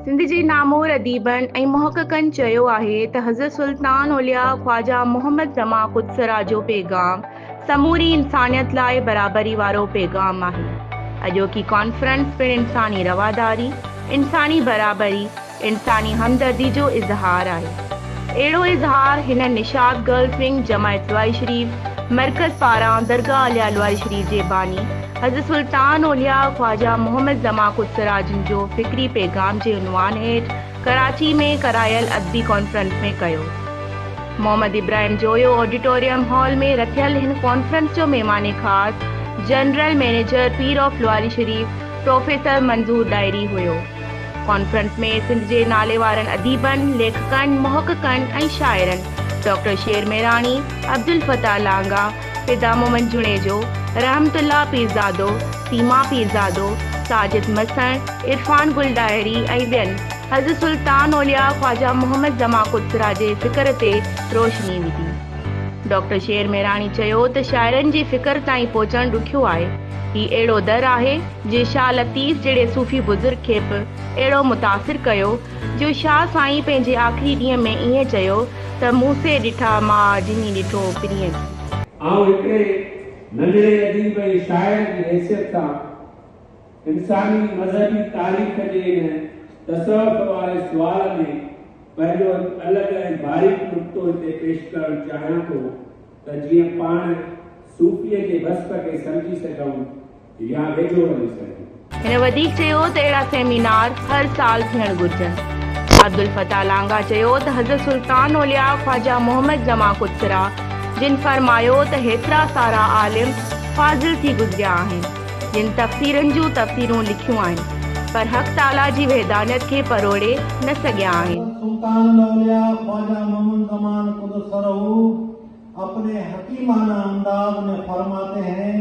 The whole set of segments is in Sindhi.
سنڌ جي نامور اديبن ۽ محققن چيو آهي ته حضرت سلطان اولياء خواجه محمد زمان قدسرا جو پيغام سموري انسانيت لاء برابري وارو پيغام آهي. اڄوڪي ڪانفرنس پڻ انساني رواداري، انساني برابري، انساني همدردي جو اظهار آهي. اهڙو اظهار هن نشاط گرلز ونگ جمع اطلاعي شريف مرڪز پاران درگاهه عليا الاعلي شريف جي باني حضرت سلطان اولياء خواجه محمد زمان خود سراج جو فڪري پيغام جي عنوان هيٺ ڪراچي ۾ ڪرايل ادبي ڪانفرنس ۾ ڪيو. محمد ابراهيم جويو آڊيٽوريم هال ۾ رٿيل هن ڪانفرنس جو مهمان خاص general manager Pir of Lawari Sharif professor Manzoor Dahri هيو. ڪانفرنس ۾ سنڌ جي ناليوارن اديبن، ليکڪن، محققن ۽ شاعرن ڊاڪٽر شير ميراڻي، عبدالفتاح لانگاهه، فدا محمد جوڻيجو، رحمت الله پيرزادو، سيما پيرزادو، ساجد مسڻ، عرفان گل ڏاهري ۽ ٻين حضرت سلطان اولياء خواجه محمد زمان قدسرا جي فڪر تي روشني وڌي. ڊاڪٽر شير ميراڻي چيو ته شاعرن جي فڪر تائين پهچڻ ڏکيو آهي. هي اهڙو در آهي جنهن شاهه لطيف جهڙي صوفي بزرگ کي به اهڙو متاثر ڪيو جو شاهه سائين پنهنجي آخري ڏينهن ۾ ائين چيو ته مون سي ڏٺا ماء جني ڏٺو پرينء ٿي. آئون هڪڙي ننڍڙي اديب ۽ شاعر جي حيثيت سان انساني مذهبي تاريخ جي ان تصوف واري سوال ۾ پنهنجو هڪ الڳ ۽ باريڪ نقطو هتي پيش ڪرڻ چاهيان ٿو ته جيئن پاڻ صوفيء جي وصف کي سمجهي سگهون. هن وڌيڪ چيو ته اهڙا سيمينار هر سال ٿيڻ گهرجن. عبدالفتاح لانگاهه چيو ته حضرت سلطان اولياء خواجه محمد جمع قدسره جن فرمايو ته هيترا سارا عالم فاضل ٿي گذريا آهن جن تفسيرن جون تفسيرون لکيون آهن پر حق تعاليٰ جي وحدانيت کي پروڙي نه سگهيا آهن. حضرت سلطان الاولياء خواجه محمد جمع قدسره اپني حڪيمانه انداز مين فرماتي هين.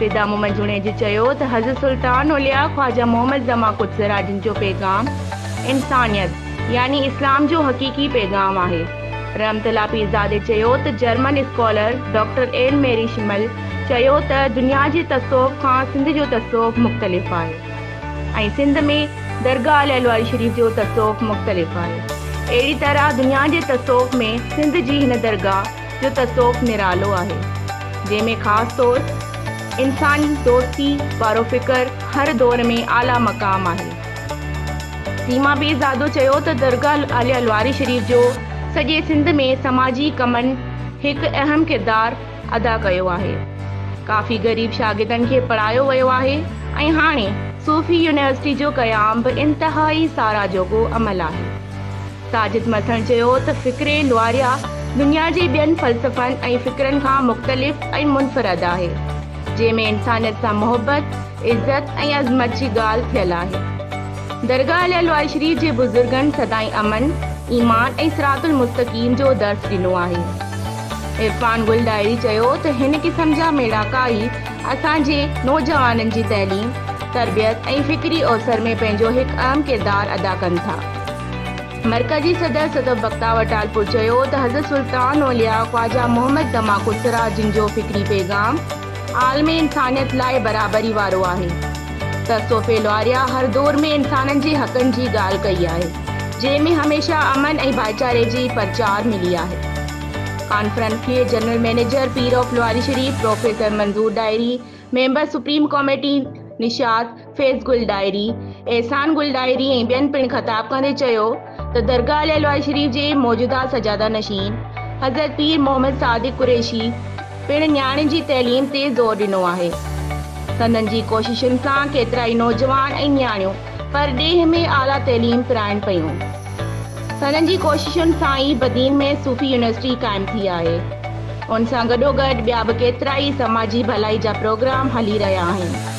فدا محمد جوڻيجو چيو ته حضرت سلطان اولياء خواجه محمد زمان قدس را جن جو پيغام انسانيت يعني اسلام جو حقيقي پيغام آهي. رحمت الله پيرزادي چيو ته German scholar doctor Anne Marie Schimmel چيو ته دنيا جي تصوف کان سنڌ جو تصوف مختلف آهي ۽ سنڌ ۾ درگاهه لعلواري شريف جو تصوف مختلف آهي اهڙي طرح دنيا جي تصوف ۾ سنڌ جي هن درگاهه جو تصوف نرالو آهي، جنهن ۾ خاص طور انسان دوستي وارو فڪر هر دور ۾ اعليٰ مقام آهي. سيما بي زادو چيو ته درگاهه عاليه لواري شريف جو سڄي سنڌ ۾ سماجي ڪمن هڪ اهم ڪردار ادا ڪيو آهي. ڪافي غريب شاگردن کي پڙهايو ويو آهي ۽ هاڻي صوفي يونيورسٽي جو قيام به انتهائي ساراهه جوڳو عمل آهي. ساجد مٿڻ چيو ته فڪر لواريا دنيا جي ٻين فلسفن ۽ فڪرن کان مختلف ۽ منفرد آهي، جنهن ۾ انسانيت سان محبت، عزت ۽ عظمت جي ڳالهه ٿيل آهي. درگاهه علي لواري شريف جي بزرگن سدائين امن، ايمان ۽ صراط المستقيم جو درس ڏنو آهي. عرفان گل ڏاهري چيو ته هن قسم جا ميڙاڪا ئي اسان جي نوجوانن جي تعليم، تربيت ۽ فڪري اوسر ۾ پنهنجو هڪ اهم ڪردار ادا ڪن ٿا. مرڪزي صدر صدف بختاور ٽالپر چيو ته حضرت سلطان اولياء خواجه محمد دماغ الثريا جن جو فڪري پيغام عالم انسانيت لاء برابري وارو آهي ته صوفي لاريا هر دور ۾ انسانن جي حقن جي ڳالهه ڪئي آهي جنهن ۾ هميشه امن ۽ ڀائيچاري جي پرچار ملي آهي ڪانفرنس کي general manager Pir of Lawari Sharif professor Manzoor Dahri member supreme committee Nishat Faiz Gul Dahri, Ehsan Gul Dahri ۽ ٻين پڻ خطاب ڪندي چيو ته درگاهه لعلوائي شريف جي موجوده سجاده نشين حضرت پير محمد صادق قريشي پڻ نياڻين جي تعليم تي زور ڏنو آهي. سندن جي ڪوششن سان ڪيترائي نوجوان ۽ نياڻيون پرڏيهه ۾ اعليٰ تعليم پرائن پيون. سندن جي ڪوششن سان ئي بدين ۾ صوفي يونيورسٽي قائم ٿي آهي. ان سان گڏوگڏ ٻيا به ڪيترائي سماجي ڀلائي جا پروگرام هلي رهيا آهن.